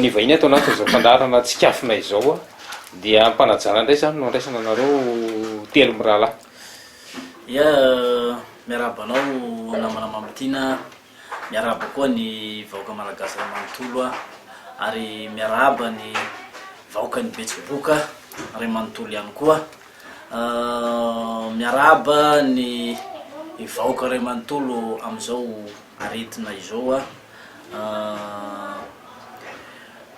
Ny vahiny ato anatin'izao fandaharana tsikafona izao dia ampanajana indray izany no andraisana anareo telo mirahalahy. Ia, miarahaba anao namana Mamotiana, miarahaba koa ny vahoaka malagasy iray manontolo ary miarahaba ny vahoakan'i Betsiboka iray manontolo ihany koa. Miarahaba ny vahoaka iray manontolo amin'izao aretina izao.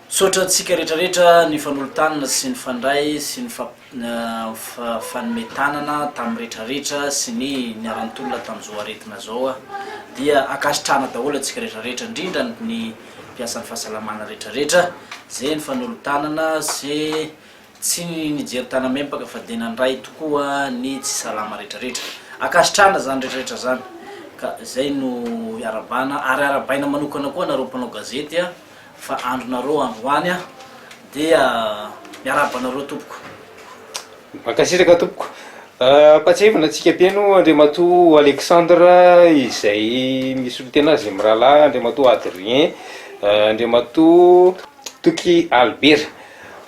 Misaotra antsika rehetra rehetra nifanolo-tanana sy nifandray sy nifanome tanana tamin'ny rehetra rehetra sy ny niara-nitolona tamin'izao aretina izao aho. Dia ankasitrahana daholo antsika rehetra rehetra, indrindra ny mpiasan'ny fahasalamana rehetra rehetra izay nifanolo-tanana sy Tsy nijery tanam-empaka fa dia nandray tokoa ny tsy salama rehetrarehetra. Ankasitrahana izany rehetrarehetra izany ka izay no iarabana ary arabaina manokana koa anareo mpanao gazety a! fa andronareo androany dia miarahaba anareo tompoko. Mankasitraka tompoko. Ampahatsiahivina antsika Mpihaino Andriamatoa Alexandre izay misolo tena azy ny mirahalahy Andriamatoa Adrien, Andriamatoa. Toky Albert.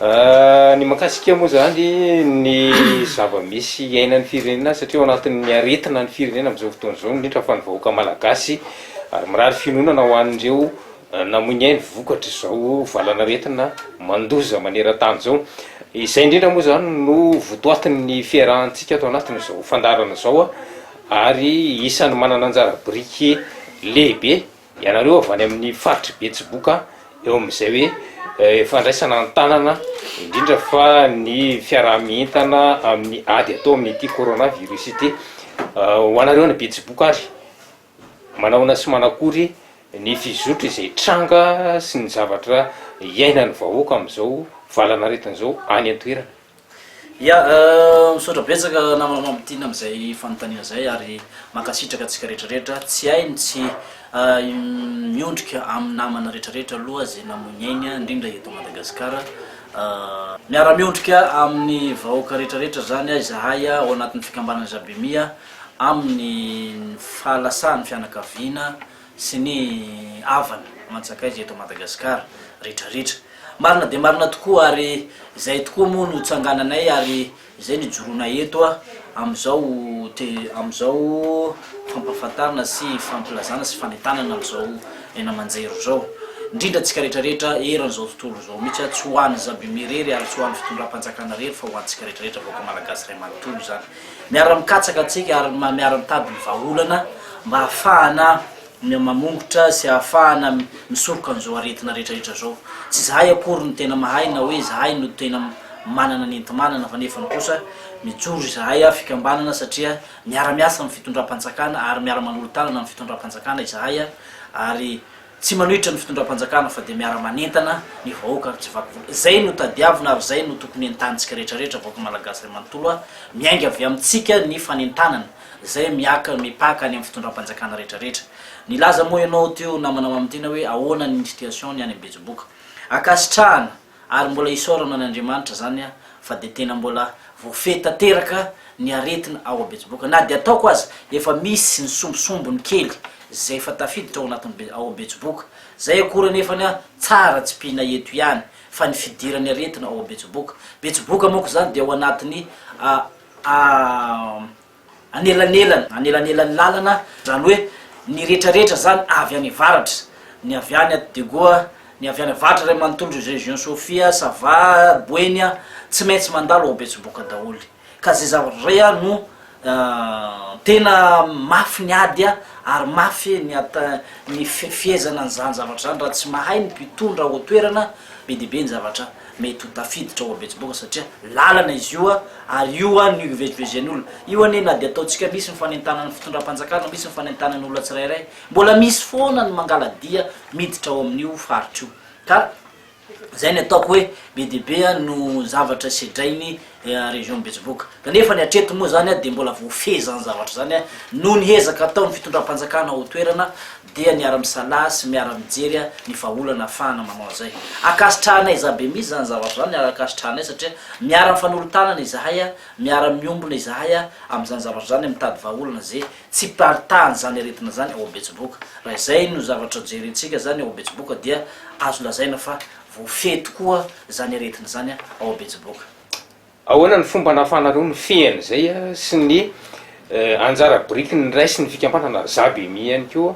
Ny mahakasika moa izany ny zava-misy iainan'ny firenena satria ao anatin'ny aretina ny firenena amin'izao fotoana izao indrindra fa ny vahoaka malagasy ary mirary fiononana ho an'ireo namoy ny ainy vokatr'izao valanaretina mandoza maneran-tany izao. Izay indrindra moa izany no votoatin'ny fiarahantsika ato anatin'izao fandaharana izao ary isan'ny manana anjara biriky lehibe Ianareo avy any amin'ny faritr'i Betsiboka eo amin'izay hoe fandraisana an-tanana indrindra fa ny fiaraha-mientana amin'ny ady atao amin'ity corona virus ity. Ho anareo any Betsiboka ary, manahoana sy manakory ny fizotry izay tranga sy ny zavatra iainan'ny vahoaka amin'izao valan'aretina izao any an-toerana? Ya, misaotra betsaka namana Mamotiana amin'izay fanontaniana izay ary mankasitraka antsika rehetrarehetra, tsy hay ny tsy miondrika amin'ny namana rehetrarehetra aloha izay namoy ny ainy indrindra eto Madagasikara, miara miondrika amin'ny vahoaka rehetrarehetra izany izahay ao anatin'ny fikambanana Jabemia amin'ny fahalasahany fianakaviana sy ny havana aman-tsakaiza eto Madagasikara retraretra. Marina dia marina tokoa ary izay tokoa moa no tsangananay ary izay no ijoroanay eto amin'izao te amin'izao fampahafantarana sy fampilazana sy fanentanana an'izao haino aman-jery izao indrindra antsika retraretra eran'izao tontolo izao mihitsy, tsy ho an'i Zabime irery ary tsy ho an'ny fitondram-panjakana irery fa ho antsika retraretra vahoaka Malagasy iray manontolo izany. Miara-mikatsaka antsika ary miara-mitady ny vahaolana mba hahafahana mamongotra sy hahafahana misoroka an'izao aretina rehetrarehetra izao. Tsy izahay akory no tena mahay na hoe izahay no tena manana ny enti-manana fa nefany kosa mijoro izahay fikambanana satria miara-miasa amin'ny fitondram-panjakana ary miara-manolo-tanana amin'ny fitondram-panjakana izahay ary Tsy manohitra ny fitondram-panjakana fa dia miara-manentana ny vahoaka ary tsy vaky volo. Izay no tadiavina ary izay no tokony entanintsika rehetra rehetra vahoaka Malagasy iray manontolo a! Miainga avy amintsika ny fanentanana izay miaka mipaka any amin'ny fitondram-panjakana rehetra rehetra. Nilaza moa ianao teo namana mamintina hoe ahoana ny situation ny any Betsiboka. Ankasitrahana. Ary mbola hisaorana an' Andriamanitra zany aho fa dia tena mbola voafehy tanteraka ny aretina ao Betsiboka. Na dia ataoko aza efa misy ny sombisombiny kely izay efa tafiditra ao anatin'ny ao Betsiboka. Zay akory anefany an, tsara tsy mpihina eto ihany fa ny fidiran'ny aretina ao Betsiboka. Betsiboka manko izany dia ao anatin'ny a. Anelanelany, anelanelan'ny lalana, zany hoe ny retraretra zany avy any avaratra, ny avy any aty Degoa, ny avy any avaratra iray manontolo ry Région Sofia, Sava, Boeny, tsy maintsy mandalo ao Betsiboka daholo, ka zay zavatra zay a no tena mafy ny ady ary mafy ny ata- ny fifehezana an'izany zavatra zany raha tsy mahay ny mpitondra ao an-toerana be dia be ny zavatra. Mety ho tafiditra ao Betsiboka satria lalana izy io ary io an no ivezivezen'olona. Io anie na dia ataontsika misy ny fanentanan'ny fitondram-panjakana, misy ny fanentanan'ny olona tsirairay, mbola misy foana ny mangala-dia miditra ao amin'io faritra io. Ka izay ny ataoko hoe be dia be no zavatra sedrainy dia région Betsiboka. Kanefa ny hatreto moa izany dia mbola voafehy izany zavatra izany noho ny ezaka ataon'ny fitondram-panjakana ao an-toerana dia miara-misalahy sy miara-mijery ny vahaolana ahafahana manao an'izay. Ankasitrahanay izahay be mihitsy izany zavatra izany ary ankasitrahanay satria miara-mifanolo-tanana izahay, miara-miombona izahay amin'izany zavatra izany, mitady vahaolana izay tsy mparitahan'izany aretina izany ao Betsiboka. Raha izay no zavatra jerentsika izany ao Betsiboka dia azo lazaina fa Voafehy tokoa izany aretina izany ao Betsiboka. Ahoana ny fomba nahafahanareo nifehy an'izay sy ny anjara biriky niraisin'ny fikambanana ry Zabemi ihany koa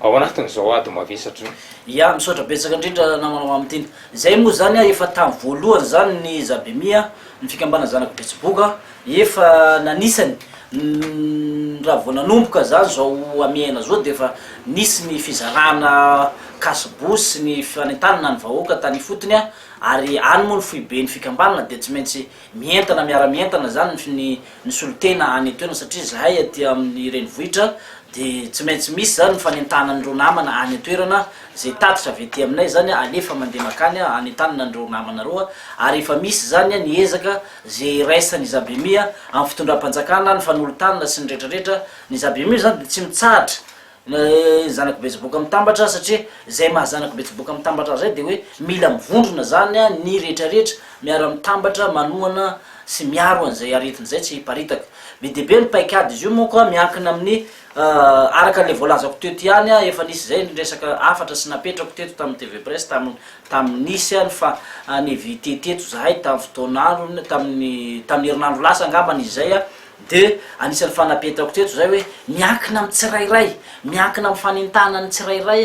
ao anatin'izao ady mavesatra izao? Ya, misaotra betsaka indrindra namanao amin'ity. Izay moa izany efa tamin'ny voalohany izany ny Zabemi, ny fikambanana zanak'i Betsiboka, Efa nanisany, raha vao nanomboka izany izao hamehana izao dia efa nisy ny fizarana cashbous sy ny fanentanana ny vahoaka tany ifotony ary any moa ny foiben'ny fikambanana dia tsy maintsy mientana miara-mientana izany ny ny solontena any an-toerana satria izahay aty amin'ny renivohitra dia tsy maintsy misy izany ny fanentanana an'ireo namana any an-toerana izay tatitra avy aty aminay izany alefa mandeha mankany hanentanana an'ireo namana ireo ary efa misy izany ny ezaka Izay iraisan' i Zabemia amin' ny fitondram-panjakana, ny fanolotanana sy ny rehetra rehetra, ny Zabemia izany dia tsy mitsahatra ny zanak'i Betsiboka Mitambatra satria izay maha zanak'i Betsiboka Mitambatra azy izay dia hoe mila mivondrona izany ny rehetra rehetra miara mitambatra manohana sy miaro an' izay aretina izay tsy hiparitaka. Be dia be ny paikady izy io manko miankina amin' ny araka ilay voalazako teto ihany efa nisy izay ny resaka hafatra sy napetrako teto tamin'ny tvpresse tamin'ny Tamin'ny nisy ary fa en-éviter teto izahay tamin'ny fotoana andro iny, tamin'ny, tamin'ny herinandro lasa angambany izy izay, dia anisan'ny fanapetrako teto izay hoe miankina amin'ny tsirairay, miankina amin'ny fanentanan'ny tsirairay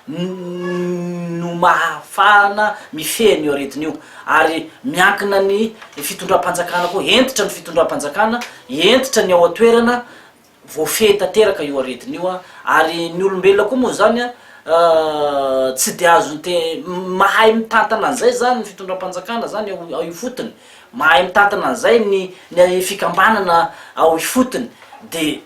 no mahafahana mifehy an'io aretina io, ary miankina ny fitondram-panjakana koa, hentitra ny fitondram-panjakana, hentitra ny ao an-toerana, Voafehy tanteraka io aretina io ary ny olombelona koa moa izany tsy dia azony te mahay mitantana an'izay zany ny fitondram-panjakana zany ao ao ifotony, mahay mitantana an'izay ny ny fikambanana ao ifotony de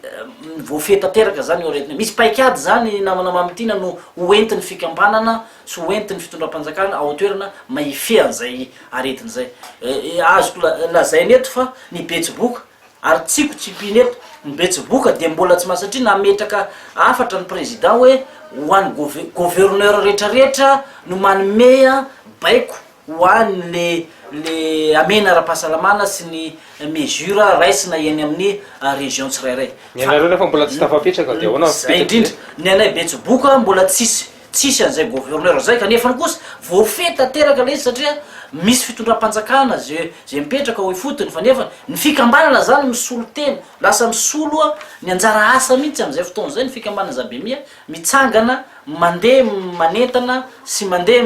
voafehy tanteraka zany io aretina io, misy paikady zany namana Mamitiana no ho entin'ny fikambanana sy ho entin'ny fitondram-panjakana ao an-toerana mba hifehy an'izay aretina izay, azoko lazaina eto fa ny betsiboka Ary tsiko tsipihina eto, ny betsiboka dia mbola tsy masatria nametraka hafatra ny Président hoe ho an'ny gove- Gouverneur rehetra rehetra no manome baiko ho an'ny le le hamena ara-pahasalamana sy ny mesures raisina eny amin'ny Région tsirairay. Ny anareo nefa mbola tsy tafapetraka dia ahoana ny fipetraky zay? Zay indrindra, ny anay betsiboka mbola tsisy Tsisy an'izay gouverneur izay kanefany kosa voafehy tanteraka ilay izy satria misy fitondram-panjakana izay izay mipetraka ao ifotony fa nefany ny fikambanana izany misolo tena lasa misolo ny anjara asa mihitsy amin'izay fotoana izay ny fikambanana Zabemia mitsangana mandeha manentana sy mandeha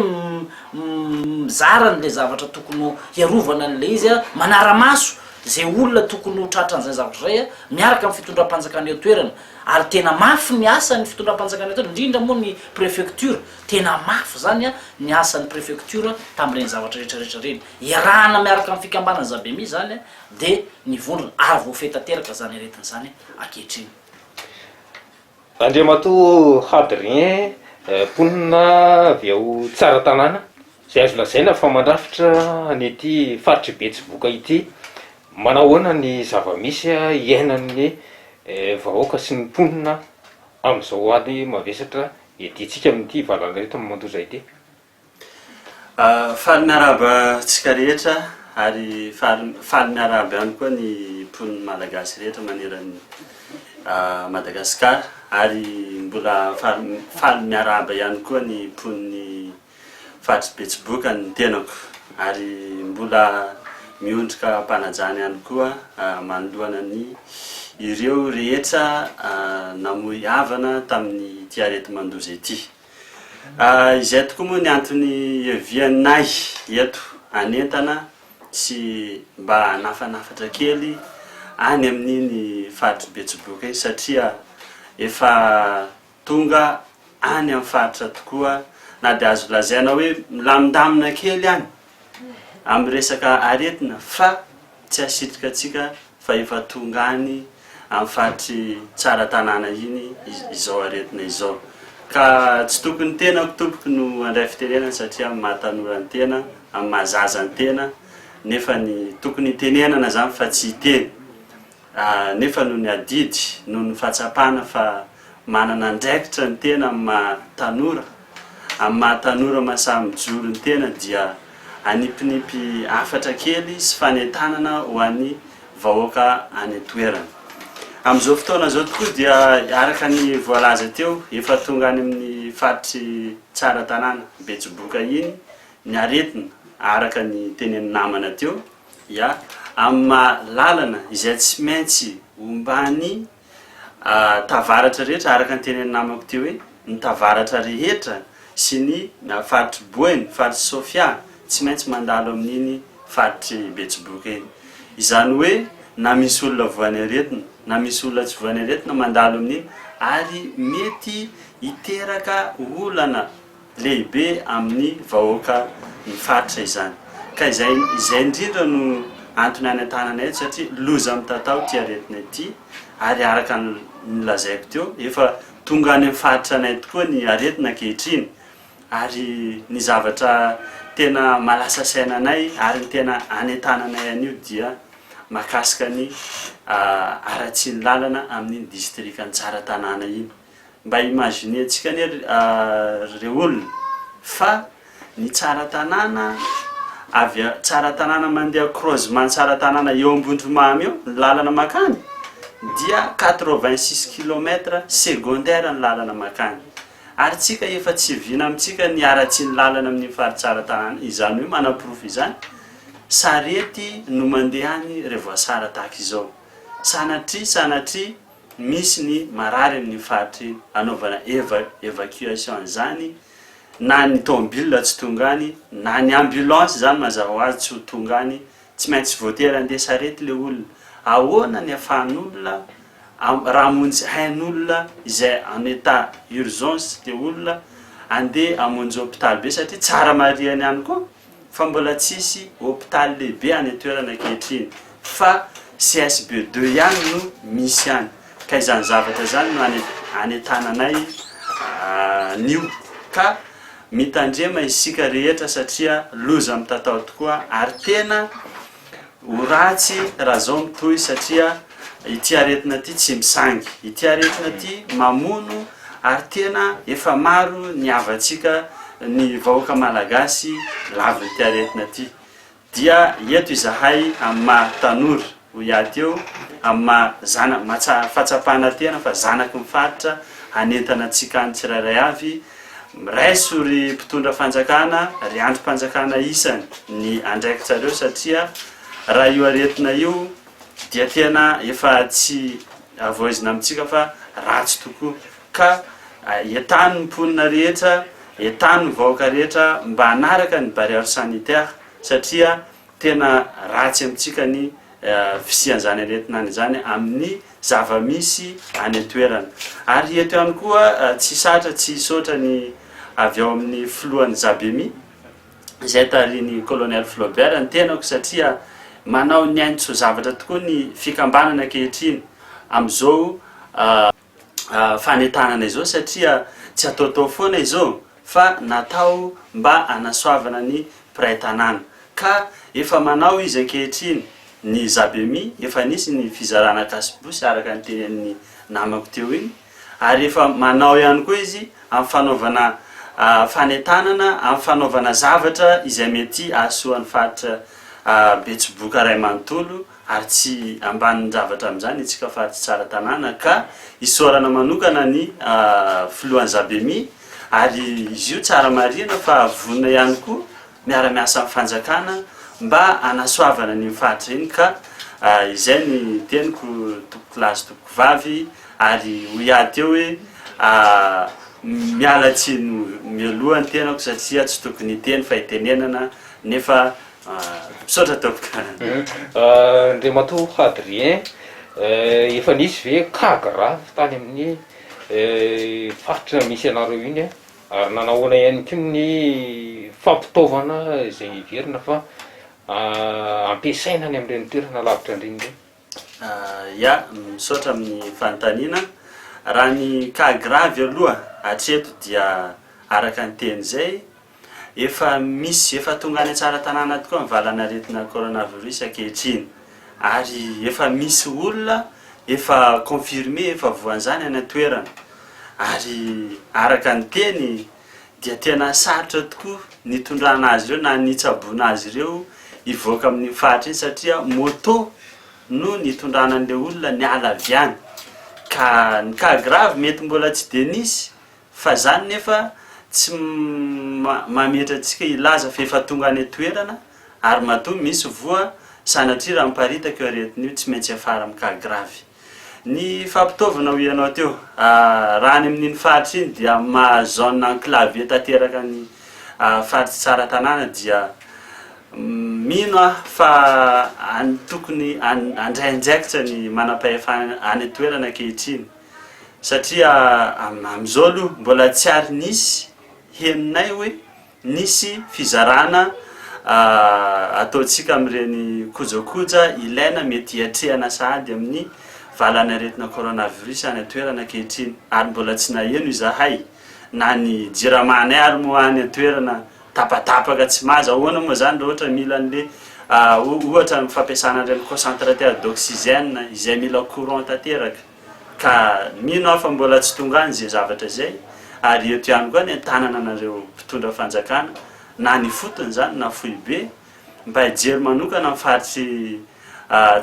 mizara an'ilay zavatra tokony ho hiarovana an'ilay izy a manara-maso izay olona tokony ho tratran'izay zavatra izay a miaraka amin'ny fitondram-panjakana eo an-toerana Ary tena mafy ny asan'ny fitondram-panjakana eto, indrindra moa ny prefecture. Tena mafy izany an, ny asan'ny prefecture tamin'ireny zavatra rehetra rehetra ireny. Iarahana miaraka amin'ny fikambanan'ny Zabemi izany an, dia ny vondrona, ary voafehy tanteraka izany aretina izany ankehitriny. Andriamatoa Hadrien, mponina avy ao Tsaratanàna, izay azo lazaina fa mandrafitra an'ity faritr'i Betsiboka ity. Manahoana ny zava-misy iainan'ny vahoaka sy ny mponina amin'izao ady mavesatra iadiantsika amin'ity valanaretina mandoza ity? Faly miarahaba antsika rehetra ary faly miarahaba ihany koa ny mponina malagasy rehetra maneran'i Madagasikara ary mbola faly miarahaba ihany koa ny mponin'i Fa tsy betsiboka ny tenako ary mbola miondrika am-panajana ihany koa manoloana ny ireo rehetra namoy havana tamin'ity areti-mandoza ity. Izay tokoa moa ny antony hiavianay eto hanentana sy mba hanafanafatra kely any amin'iny faritry betsiboka iny satria efa Tonga any amin'ny faritra tokoa na dia azo lazaina hoe milamindamina kely any amin'ny resaka aretina fa tsy hasitrika antsika fa efa tonga any amin'ny faritr'i Tsaratanàna iny izao aretina izao. Ka tsy tokony ny tenako tompoko no handray fitenenana satria amin'ny maha tanora ny tena, amin'ny maha zaza ny tena nefa ny tokony hitenenana izany fa tsy hiteny. nefa noho ny adidy, noho ny fahatsapana fa manana andraikitra ny tena amin'ny maha tanora, amin'ny maha tanora mahasahy mijoro ny tena dia hanipinipy hafatra kely sy fanentanana ho an'ny vahoaka any an-toerana. Amin'izao fotoana izao tokoa dia araka ny voalaza teo, efa tonga any amin'ny faritry Tsaratanàna, Betsiboka iny ny aretina araka ny tenenin'ny namana teo. ya amin'ny maha lalana izay tsy maintsy omban'ny tavaratra rehetra araka ny tenenin'ny namako teo hoe ny tavaratra rehetra sy ny faritr'i Boeny, faritr'i Sofia tsy maintsy mandalo amin'iny faritr'i Betsiboka iny. Izany hoe na misy olona voan'ny aretina na misy olona tsy voan'ny aretina mandalo amin'iny ary mety hiteraka olana. lehibe amin'ny vahoaka ny faritra izany ka izay izay indrindra no antony anentanana eto satria loza mitatao ity aretina ity ary araka ny nolazaiko teo efa tonga any amin'ny faritra anay tokoa ny aretina ankehitriny ary ny zavatra tena malasa saina anay ary ny tena anentananay anio dia makasika ny ah, haratsian'ny lalana amin'ny distrikan'i Tsaratanàna iny. Mba imaginer-ntsika anie ry olona fa ny tsara tanàna avy a, tsara tanàna mandeha croisement tsara tanàna eo Ambondromamy eo ny lalana makany dia quatre vingt six kilomètre secondaire ny lalana makany ary tsika efa tsy vina amintsika ny haratsian'ny lalana amin'ny fary tsara tanàna izany hoe manaporofo izany sarety no mandeha any revoasara tahaka izao sanatria sanatria misy ny marary amin'iny faritra iny, anaovana eva evacuation an'izany, na ny tomobilina tsy tonga any, na ny ambulance izany mazava ho azy tsy ho tonga any, tsy maintsy voatery handeha sarety ilay olona. Ahoana ny afahan'olona am- raha hamonjy hain'olona izay en état urgence ilay olona, handeha hamonjy hôpitaly be satria tsara marihany ihany koa. fa mbola tsisy hopitaly lehibe any an-toerana ankehitriny fa CSB deux ihany no misy any ka izany zavatra izany no anentananay anio ka mitandrema isika rehetra satria loza mitatao tokoa ary tena Ho ratsy raha zao mitohy satria ity aretina ity tsy misangy. Ity aretina ity mamono ary tena efa maro ny havantsika ny vahoaka malagasy lavin'ity aretina ity. Dia eto izahay amin'ny maha tanora hoy ahy teo amin'ny maha zana- maha tsa- fahatsapana tena fa zanaky ny faritra hanentana antsika any tsirairay avy Miraiso ry mpitondra fanjakana, ry andrim-panjakana isany ny andraikitrareo satria raha io aretina io dia tena efa tsy avoizina amintsika fa ratsy tokoa ka entano ny mponina rehetra, entano ny vahoaka rehetra mba hanaraka ny barrière sanitaire satria tena ratsy amintsika ny fisian'izany aretinany izany amin'ny zava-misy any an-toerana. Ary eto ihany koa tsy sarotra tsy hisaotra ny avy ao amin'ny filohan'ny Zabemi, izay tarihin'ny Colonel Flaubert, ny tenako satria manao ny ainy tsy ho zavatra tokoa ny fikambanana ankehitriny amin'izao fanentanana izao satria tsy ataotao foana izao. fa natao mba hanasoavana ny mpiray tanàna ka efa manao izy ankehitriny ny Zabemi, efa nisy ny fizarana kasibosy araka ny tenenin'ny namako teo iny ary efa manao ihany koa izy amin'ny fanaovana fanentanana, amin'ny fanaovana zavatra izay mety hahasoa ny faritra Betsiboka iray manontolo ary tsy ambanin-javatra amin'izany itsika faritra Tsaratanàna ka isaorana manokana ny filohan'ny Zabemi Ary izy io tsara marihina fa vonona ihany koa miara-miasa amin'ny fanjakana mba hanasoavana an'iny faritra iny ka izay ny teniko tompoko lahy sy tompoko vavy ary hoy ahy teo hoe miala tsiny mialoha ny tenako satria tsy tokony hiteny fa hitenenana nefa misaotra tompoko. Andriamatoa Hadrien, efa nisy ve cas grave tany amin'ny faritra misy anareo iny a, ary nanahoana ihany koa ny fampitaovana izay heverina fa ampiasaina any amin'ireny toerana lavitra andreny ireny? Ya, misaotra amin'ny fanontaniana. Raha ny cas grave aloha hatreto dia araka ny teny izay Efa misy, efa tonga any Tsaratanàna tokoa ny valan'aretina coronavirus ankehitriny ary efa misy olona efa confirmé, efa voan'izany any an-toerana ary araka ny teny dia tena sarotra tokoa ny hitondrana azy ireo na ny hitsaboana azy ireo hivoaka amin'iny faritra iny satria moto no nitondrana an'ilay olona niala avy any ka ny cas grave mety mbola tsy dia nisy Fa zany nefa tsy mametra antsika hilaza fa efa tonga any an-toerana ary matoa misy voa sanatria raha miparitaka io aretina io tsy maintsy hiafara amin'ny cas grave. Ny fampitaovana hoy ianao teo, raha any amin'iny faritra iny dia maha zone enclavée tanteraka ny faritra tsara tanàna dia mino aho fa tokony handray andraikitra ny manampahefana any an-toerana ankehitriny. satria amin'izao aloha mbola tsy ary nisy henonay hoe nisy fizarana ataontsika amin'ireny kojakoja ilaina mety hiatrehana sahady amin'ny valan'aretina coronavirus any an-toerana ankehitriny ary mbola tsy naheno izahay na ny jiramanay ary moa any an-toerana tapatapaka tsy maza ahoana moa izany raha ohatra mila an'le ohatra ny fampiasana an'ireny concentrateur d'oxygène izay mila courant tanteraka Ka mino aho fa mbola tsy tonga any izay zavatra izay, ary eto ihany koa ny an-tanananareo mpitondra fanjakana, na ny ifotony izany na foibe, mba hijery manokana amin'ny faritry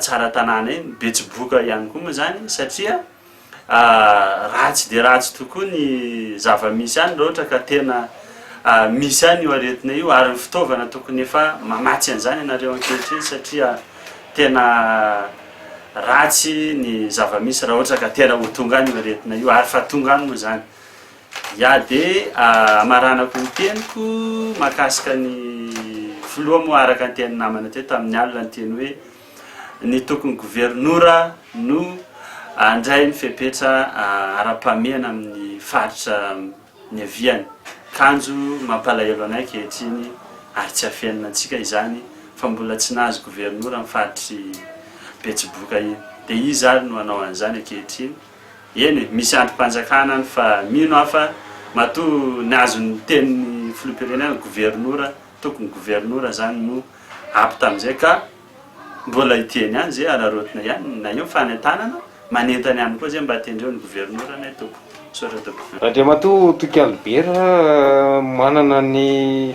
tsara tanàna iny, betsiboka ihany koa moa izany, satria ratsy dia ratsy tokoa ny zava-misy any, raha ohatra ka tena misy any io aretina io, ary ny fitaovana tokony efa mamatsy an'izany ianareo ankehitriny, satria tena. ratsy ny zava-misy raha ohatra ka tena ho tonga any io aretina io ary fa tonga any moa izany. Ya dia hamaranako ny teniko mahakasika ny filoha moa araka ny tenin'ny namana teo tamin'ny alina ny teny hoe ny tokony governora no handray ny fepetra ara-pahamehana amin'ny faritra niaviany. Kanjo mampalahelo anay ankehitriny ary tsy afenina antsika izany fa mbola tsy nahazo governora ny faritr'i Betsiboka iny. Dia iza ary no hanao an'izany ankehitriny? Eny e, misy andrim-panjakana any fa mino aho fa matoa nihazo ny tenin'ny filoham-pirenena, governora, tokony governora izany no ampy tamin'izay ka. Mbola hidiany ihany ze araraotina ihany na io ny fanentanana, manentana ihany koa ze mba tendreo ny governoranay tompoko. Misaotra tompoko. Andriamatoa Toky Albert, manana ny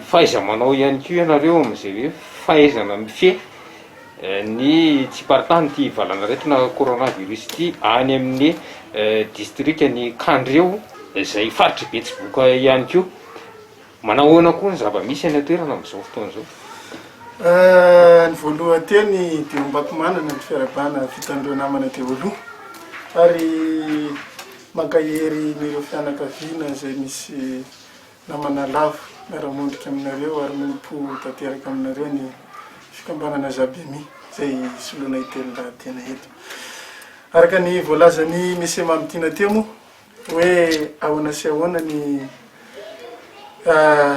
fahaiza-manao ihany koa ianareo amin'izay hoe fahaizana mifehy ny tsiparitan' ity valan'aretina coronavirus ity any amin'ny distrikan'i Kandreho izay faritr'i Betsiboka ihany koa. Manahoana koa ny zava-misy any an-toerana amin'izao fotoana izao? Ny voalohan-teny dia hombakomanana ny fiarahabana vitan'ireo namana teo aloha ary mankahery an'ireo fianakaviana izay misy namana lavo miara-mondrika aminareo ary miompo tanteraka aminareo ny fikambanana Zabemi izay soloina itelin-dahatena eto. Araka ny voalazan'i Mme Mamintina teo moa, Hoe ahoana sy ahoana ny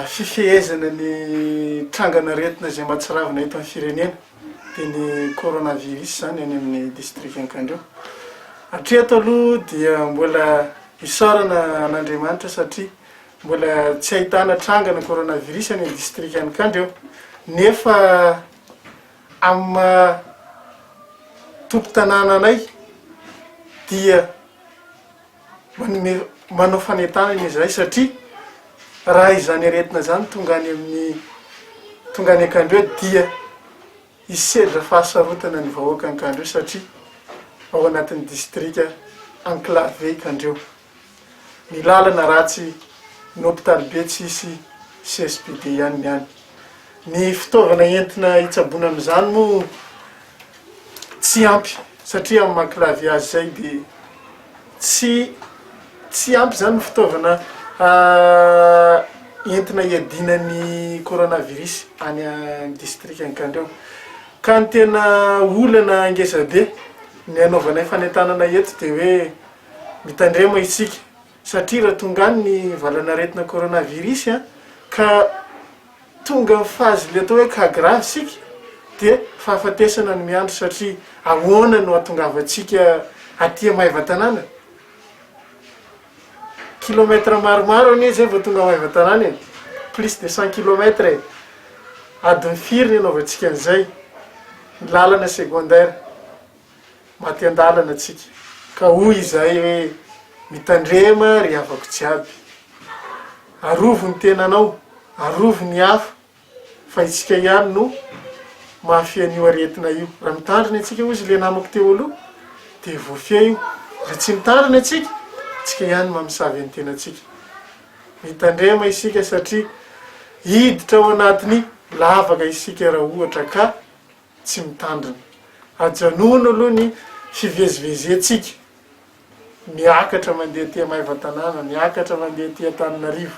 fifehezana ny trangan'aretina izay mahatsiravina eto amin'ny firenena, dia ny coronavirus izany any amin'ny distrikan'Iankandreo. Hatreto aloha dia mbola isaorana an'Andriamanitra satria mbola tsy ahitana trangana coronavirus any amin'ny distrikan'Iankandreo nefa amin'ny maha tompon-tanànanay dia manome manao fanentanana izy iray satria raha izany aretina izany tonga any amin'ny tonga any an-kandre dia hisedra fahasarotana ny vahoaka an-kandre satria ao anatin'ny distrika enclavé i Kandreho. Ny lalana ratsy, ny hopitaly be tsy hisy CSPD ihany ny any. Ny fitaovana entina hitsaboana an'izany moa tsy ampy satria amin'ny maha clavier azy izay dia tsy tsy ampy izany ny fitaovana entina hiadiana ny coronavirus any amin'ny distrika Ankandriao. Ka ny tena olana ngezabe ny hanaovanay fanentanana eto dia hoe mitandrema isika. satria raha tonga any ny valan'aretina coronavirus ka tonga amin'ny phase le atao hoe cas grave isika dia fahafatesana no miandry satria ahoana no hahatongavantsika aty Maevatanàna? kilomètre maromaro anie zay vao tonga Maevatanàna e, plus de cent kilomètre e, adiny firy ny anaovantsika an'izay, ny lalana secondaire. Maty an-dalana tsika ka hoy izahay hoe, Mitandrema ry havako jiaby. Arovy ny tenanao, arovy ny hafa fa itsika ihany no mafy an'io aretina io. Raha mitandrina itsika hozy le namako teo aloha de voafia io. Raha tsy mitandrina itsika, itsika ihany no mamosavy ny tenantsika. Mitandrema isika satria hiditra ao anatin'ny lavaka isika raha ohatra ka tsy mitandrina. Ajanony aloha ny fivezivezentsika, miakatra mandeha aty Maevatanàna, miakatra mandeha aty Antananarivo.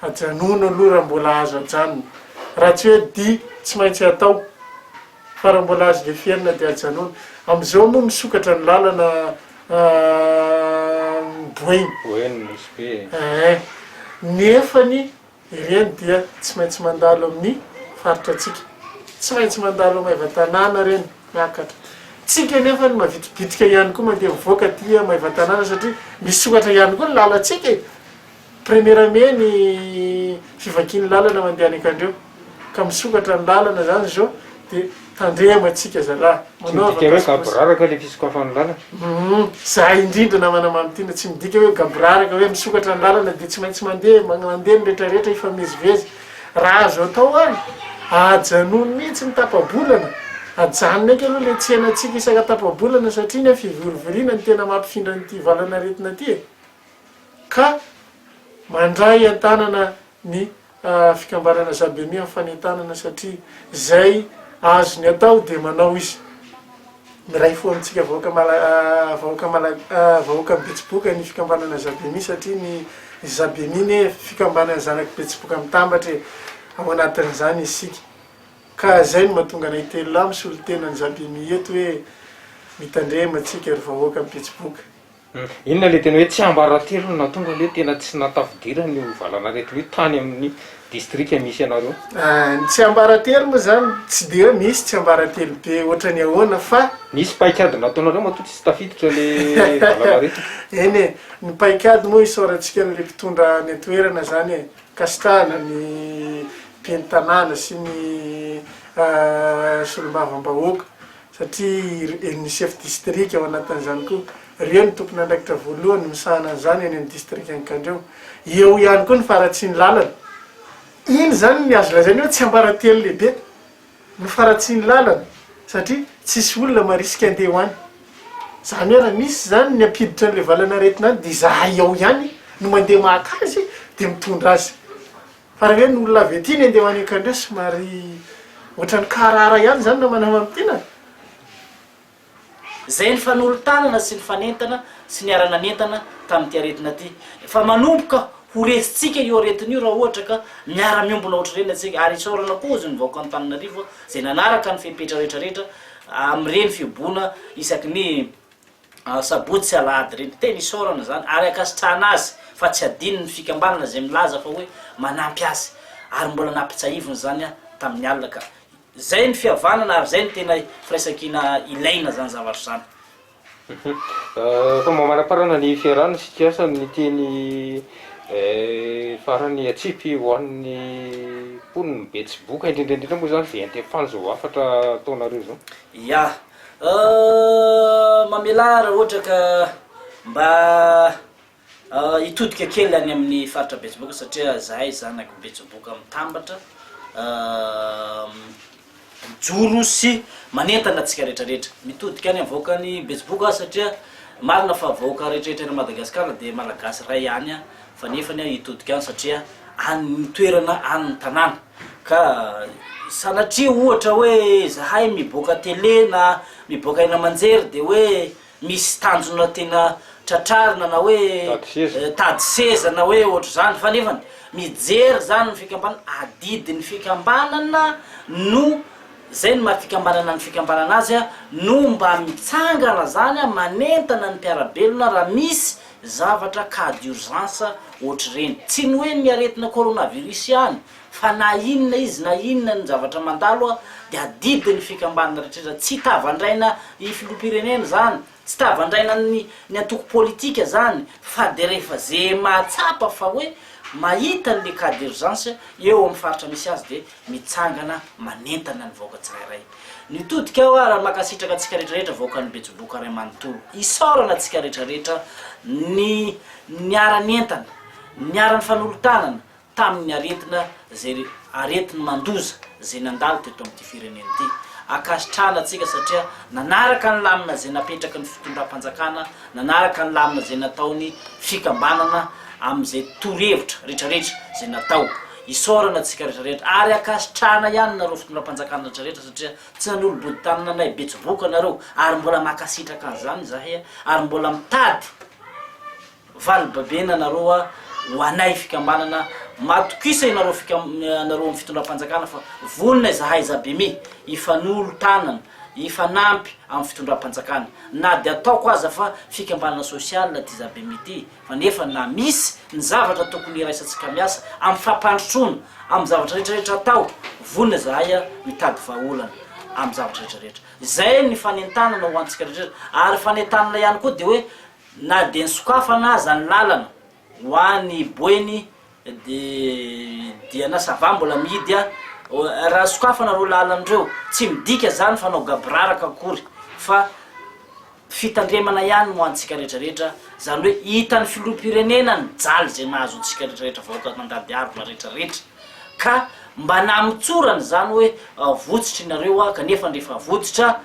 Ajanony aloha raha mbola azo ajanona. Raha tsy hoe dia tsy maintsy atao, fa raha mbola azo leferina dia ajanony. Amin'izao moa misokatra ny lalana Boeny. Boeny misy be e. Eeh, nefany. Ireny dia tsy maintsy mandalo amin'ny faritrantsika. Tsy maintsy mandalo Maevatanàna ireny miakatra. Tsika anefa no mavitibitika ihany koa mandeha mivoaka aty Maevatanàna satria misy ohatra ihany koa ny lalantsika e! Première mai ny fivakian'ny lalana mandeha any Ankandriao ka misokatra ny lalana izany izao dia Tandremo atsika zalahy. Tsy midika hoe gaboraraka ilay fisokafan'ny lalana. Humm. Za indrindra namana Mamy Tina tsy midika hoe gaboraraka hoe misokatra ny lalana dia tsy maintsy mandeha mandeha ny rehetra rehetra hifamezivezy. Raha azo atao ary ajanony mihitsy ny tapabolana. Ajanony eky aloha ilay tsenantsika isaka tapabolana satria ny fivorivoriana no tena mampifindra an'ity valanaretina ity e. Ka mandray an-tanana. ny fikambanana Zabemi amin'ny fanentanana satria izay azony atao dia manao izy. Miray fo amintsika vahoaka vahoaka vahoakan'i Betsiboka ny fikambanana Zabemi satria ny Zabemi anie fikambanana zanak'i Betsiboka mitambatra e! ao anatin'izany isika. Ka izay no mahatonga anay telo lahy misolo tena ny Zabemi eto hoe mitandrema antsika ry vahoakan'i Betsiboka. Inona ilay tena hoe tsiambaratelo no nahatonga ilay tena tsy nahatafidirana io valanaretina io tany amin'ny distrika misy anareo? Ny tsiambaratelo moa izany tsy dia hoe misy tsiambaratelo be ohatran'ny ahoana fa. Nisy paikady nataonareo matoa tsy tafiditra ilay valanaretina? Eny e, ny paikady moa isaorantsika an'ilay mpitondra any an-toerana izany e, ankasitrahana ny ben'ny tanàna sy ny solombavambahoaka satria ry ny chef distrika ao anatin'izany koa, ireo no tompon'andraikitra voalohany misahana an'izany eny amin'ny distrikan'i Kandreho. Eo ihany koa ny faharatsian'ny lalana. Iny izany ny azo lazaina hoe tsiambaratelo lehibe no faharatsian'ny lalana satria tsisy olona marisika andeha ho any. Izany hoe raha misy izany ny hampiditra an'ilay valanaretina any dia izahay ao ihany no mandeha maka azy dia mitondra azy. Fa raha hoe ny olona avy aty ny andeha ho any Akandre somary ohatran'ny kaharahara ihany izany na manana amintiana? Izay nifanolo-tanana sy nifanentana sy niara-nanentana tamin'ity aretina ity. Fa manomboka ho resintsika io aretina io raha ohatra ka miara-miombona ohatr'ireny antsika. Ary isaorana koa hozy ny vahoaka Antananarivo izay nanaraka ny fepetra rehetra rehetra amin'ireny fihibohona isaky ny Asabotsy sy alahady ireny, tena isaorana izany ary ankasitrahana azy fa tsy adinony ny fikambanana izay milaza fa hoe manampy azy ary mbola nampitsahiviny izany aho tamin'ny alina ka izay ny fihavanana ary izay no tena firaisankina ilaina izany zavatra izany. Efa mamaraparana ny fiarahana sy fiasany ny teny farany atsipy ho an'ny mponin'i Betsiboka indrindra indrindra moa izany izay entim-panja ho hafatra ataonareo izao. Ya. Ahh mamelà raha ohatra ka mba hitodika kely any amin'ny faritra Betsiboka satria zahay zanak'i Betsiboka mitambatra mijoro sy manentana antsika retraretra mitodika any amin'ny vahoakan'i Betsiboka aho satria marina fa vahoaka retraretra any Madagasikara dia malagasy ray ihany aho fa nefany aho hitodika any satria any ny toerana any ny tanàna Ka sanatria ohatra hoe zahay miboaka tele na miboaka eny aman-jery dia hoe misy tanjona tiana tratrarina na hoe tady seza na hoe ohatr'izany fa nefany mijery izany ny fikambanana, adidin'ny fikambanana no izay no maha fikambanana ny fikambanana azy no mba mitsangana izany manentana ny mpiara-belona raha misy Zavatra cas d'urgence ohatr'ireny. Tsy ny hoe ny aretina coronavirus ihany fa na inona izy na inona ny zavatra mandalo a dia adidiny ny fikambanana rehetra. Tsy tavandraina i filoham-pirenena izany, tsy tavandraina ny ny antoko politika izany fa dia rehefa ze mahatsapa fa hoe mahita an'le cas d'urgence eo amin'ny faritra misy azy dia mitsangana manentana ny vahoaka tsirairay nitodika aho ary mankasitraka antsika rehetrarehetra vahoakan'ny Betsiboka ray manontolo isaorana antsika rehetrarehetra ny niara nientana niara nifanolo-tanana tamin'ny aretina zay aretiny mandoza zay nandalo teto amin'ity firenena ity ankasitrahana antsika satria nanaraka ny lamina zay napetraky ny fitondram-panjakana nanaraka ny lamina zay nataony fikambanana amin'izay torohevitra rehetrarehetra zay natao Isaorana antsika rehetra rehetra ary ankasitrahana ihany nareo fitondram-panjakana rehetra rehetra satria tsy nanolo-body tamina nay betsiboka nareo ary mbola mankasitraka an'izany izahay a, ary mbola mitady vali babena anareo a ho anay fikambanana matokisa ianareo fikam anareo amin'ny fitondram-panjakana fa vonona izahay zabimi hifanolo tanana hifanampy amin'ny fitondram-panjakana na dia ataoko aza fa fikambanana sosialina ity zabimi ity. Fa nefa na misy ny zavatra tokony hiraisantsika miasa amin'ny fampandrotroana amin'ny zavatra rehetra rehetra atao, vonona zahay mitady vahaolana amin'ny zavatra rehetra rehetra. Izay ny fanentanana ho antsika rehetra rehetra. Ary fanentanana ihany koa dia hoe na dia ny sokafana aza ny lalana ho any Boeny Dia na ça va mbola mihidy a! Raha sokafana ireo lalana ireo, tsy midika izany fa hanao gaboraraka akory fa fitandremana ihany ho antsika rehetra rehetra, izany hoe hitan'ny filoham-pirenena ny jaly izay mahazo antsika rehetra rehetra vahoaka nandady harona rehetra rehetra ka mba nahamotsorana izany hoe votsotra ianareo aho kanefa ndry efa votsotra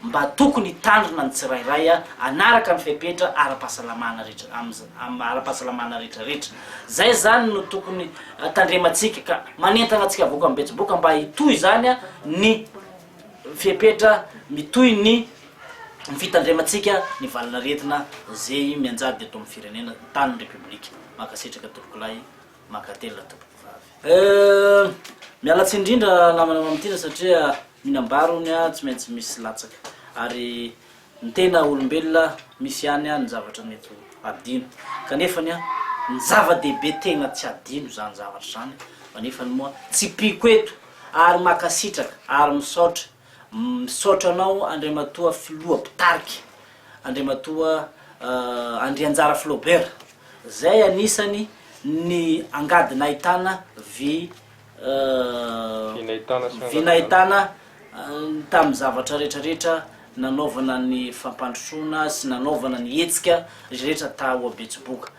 mba tokony hitandrina ny tsirairay hanaraka ny fepetra ara-pahasalamana rehetra am ara-pahasalamana rehetra rehetra. Zay zany no tokony tandremantsika ka manentana antsika vahoaka mibetsiboka mba hitohy zany ny fepetra mitohy ny ny fitandremantsika ny valin'aretina zey mianjady eto amin'ny firenena tany ny repoblika. Mankasitraka tompokolahy. Mankatelina tompokovavy. Euh. Miala tsiny indrindra namana Mamitina satria mihinam-bary hono a tsy maintsy misy latsaka ary ny tena olombelona misy ihany a ny zavatra mety ho adino kanefany a ny zava-dehibe tegna tsy adino zany zavatra zany a manefany moa tsipiko eto ary makasitraka ary misaotra Misaotra anao Andriamatoa Filoha Mpitarika, Andriamatoa Andrianjara Flaubert, zay anisany ny angady nahitana vy vy nahitana tamin'ny zavatra rehetra rehetra nanaovana ny fampandrosoana sy nanaovana ny hetsika rehetra tao Betsiboka.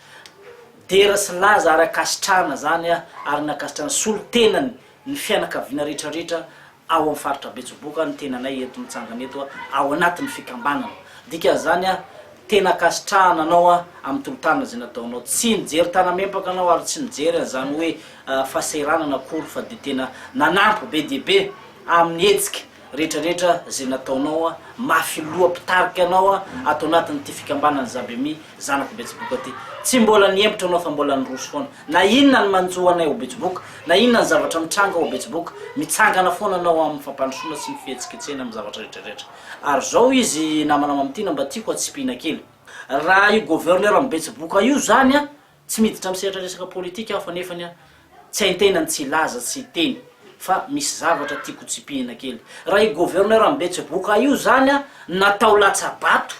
Dera sy laza ary ankasitrahana zany ary nankasitrahana solontenany ny fianakaviana rehetra rehetra ao amin'ny faritra Betsiboka ny tenanay eto mitsangana eto ao anatin'ny fikambanana dikan'izany aho tena ankasitrahana anao amin'ny tolotanana izay nataonao tsy nijery tanamempaka anao ary tsy nijery an'izany hoe fahasahiranana akory fa dia tena nanampy be dia be amin'ny hetsika rehetra rehetra zay nataonao mafy loha mpitarika anao ato anatin ity fikambanany Zabemi zanako betsiboka ty tsy mbola nihemotra anao fa mbola niroso foana na inona ny manjo anay ao betsiboka na inona ny zavatra mitranga ao betsiboka mitsangana foana anao aminy fampandrosoana sy ny fihetsiketsehina aminy zavatra rehetra rehetra ary zao izy namana mamitiana mba tiako atsipihina kely raha io gouverneur ny betsiboka io zany an Tsy miditra amin'ny sehatra resaka politika aho fa nefany an, tsy haintena ny tsy hilaza tsy hiteny fa misy zavatra tiako ho tsipihina kely. Raha io gouverneur mbetseboka io zany an natao latsabato,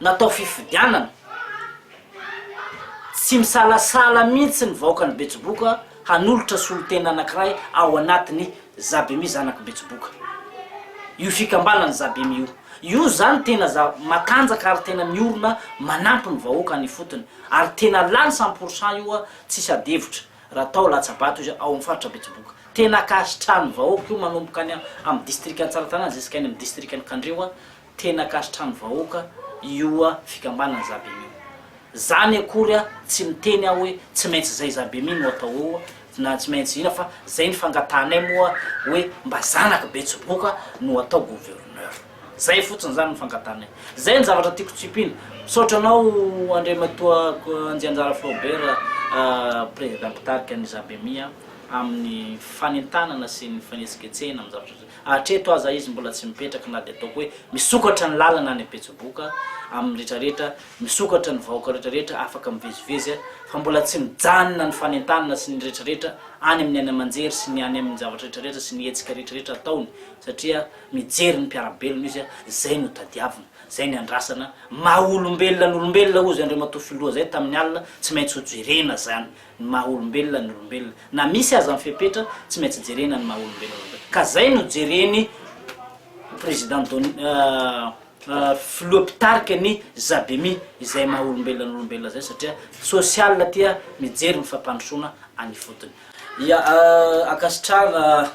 natao fifidianana, tsy misalasala mihitsy ny vahoakan'i betsiboka hanolotra solontena anakiray ao anatiny zabimi zanak'i betsiboka. Io fikambanana zabimi io. Io zany tena za matanjaka ary tena miorina manampy ny vahoaka any ifotony. Ary tena lany cent pour cent io an, tsisy adihevitra raha atao latsabato izy ao amin'ny faritra Betsiboka. Tena akasitrahan'ny vahoaka io manomboka any amin'ny distrikan'i Tsaratanàna ziska any amin'ny distrikan'i Kandreho an, tena akasitrahan'ny vahoaka io fikambanana Zabemi io. Zany akory an, tsy miteny aho hoe tsy maintsy zay Zabemi no atao eo na tsy maintsy ina fa zay ny fangatahanay moa hoe mba zanak'i Betsiboka no atao gouverneur. Zay fotsiny zany ny fankatanay. Zay ny zavatra tiako tsipina. Misaotra anao Andriamatoa Anjianjara Flaubert Prezida Mpitarika ny Zabemia amin'ny fanentanana sy ny fanetsiketsehina amin'ny zavatra rehetra. Hatreto aza izy mbola tsy mipetraka na dia ataoko hoe misokatra ny lalana any Betsiboka amin'ny rehetra rehetra, misokatra ny vahoaka rehetra rehetra afaka mivezivezy fa mbola tsy mijanona ny fanentanana sy ny rehetra rehetra any amin'ny any aman-jery sy ny any amin'ny zavatra rehetra rehetra sy ny hetsika rehetra rehetra ataony satria Mijery ny mpiara-belona izy, zay no tadiavina, zay ny andrasana, maha olombelona ny olombelona ozy Andriamatoa Filoha zay tamin'ny alina, tsy maintsy ho jerena zany ny maha olombelona ny olombelona, na misy aza ny fepetra tsy maintsy jerena ny maha olombelona ny olombelona, ka zay no jereny Président Doni Filoha mpitarika ny Zabemi izay maha olombelona ny olombelona zay satria social tia mijery ny fampandrosoana any ifotony. Ia, ankasitrahana,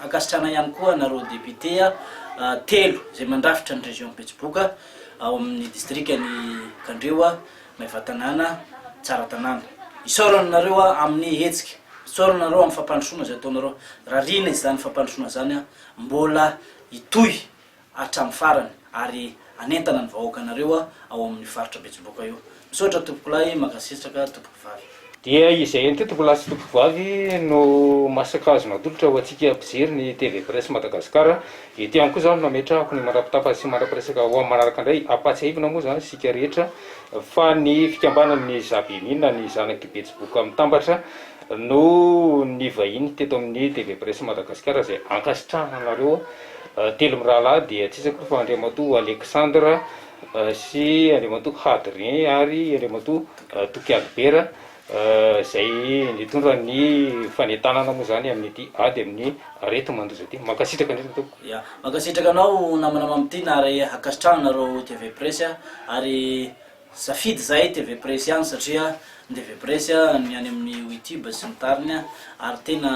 ankasitrahana ihany koa anareo députés telo izay mandrafitra ny région Betsiboka ao amin'ny distrikan'i Kandreho, Maevatanàna, Tsaratanàna. Isaorana anareo amin'ny hetsika, isaorana anareo amin'ny fampandrosoana izay ataonareo. Rariana izany fampandrosoana izany mbola hitohy hatramin'ny farany ary hanentana ny vahoakanareo ao amin'ny faritra Betsiboka io. Misaotra tompokolahy, mankasitraka tompokovavy. Dia izay ihany koa tompokolahy sy tompokovavy no masaka azonao atolotra ho antsika mpijery ny TV Presse Madagascar. Eto ihany koa izany no ametrahako ny mandra-pitapany sy mandra-piresaka ho amin'ny manaraka indray. Ampahatsiahivina moa izany isika rehetra fa ny fikambanan'ny Zabemina ny zanak'i Betsiboka Mitambatra no nivahiny teto amin'ny TV Presse Madagascar izay ankasitrahana anareo. Telo mirahalahy dia tsy iza koa fa Andriamatoa Alexandre sy Andriamatoa Hadrien ary Andriamatoa Toky Albert izay nitondra ny fanentanana moa izany amin'ity ady amin'ny areti-mandoza ity. Mankasitraka indrindra Tompoko. Ya, mankasitraka anao namana Mamitiana ary hankasitrahana nareo TV Presse ary Safidy zay TV Press ihany satria ny TV Press ny any amin'ny youtube sy ny tariny ary tena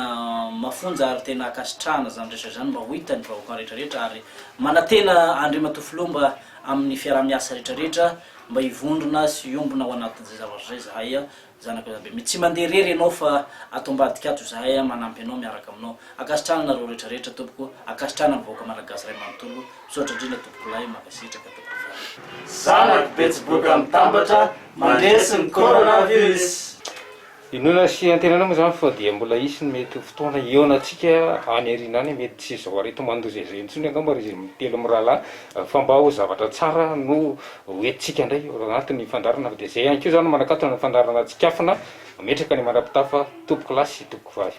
mafonja ary tena ankasitrahana zany resaka zany mba ho hita ny vahoaka rehetra rehetra ary manatena Andriamatoa Filoha mba amin'ny fiaraha-miasa rehetra rehetra mba hivondrona sy hiombona ho anatin'izay zavatra zay zahay Zanaka Rabemet, tsy mandeha irery ianao fa ato ambadika ato izahay a, manampy anao, miaraka aminao. Ankasitrahana anareo rehetra rehetra tompoko, ankasitrahana ny vahoaka Malagasy iray manontolo, misaotra indrindra tompokolahy, mankasitraka tompokovavy. Zanak'i Betsiboka mitambatra mandresy ny coronavirus. Inoana sy antenaina moa izany fa dia mbola hisy ny mety ho fotoana hihaonantsika any aoriana any, mety tsy izao aretin-mandoza izao intsony angamba ry telo mirahalahy fa mba ho zavatra tsara no Ho entintsika indray io anaty ny fandrarana fa dia izay ihany koa izany manakatona ny fandrarana tsikafona mametraka ny mandrapitafa toby kilasy sy toby kivavy.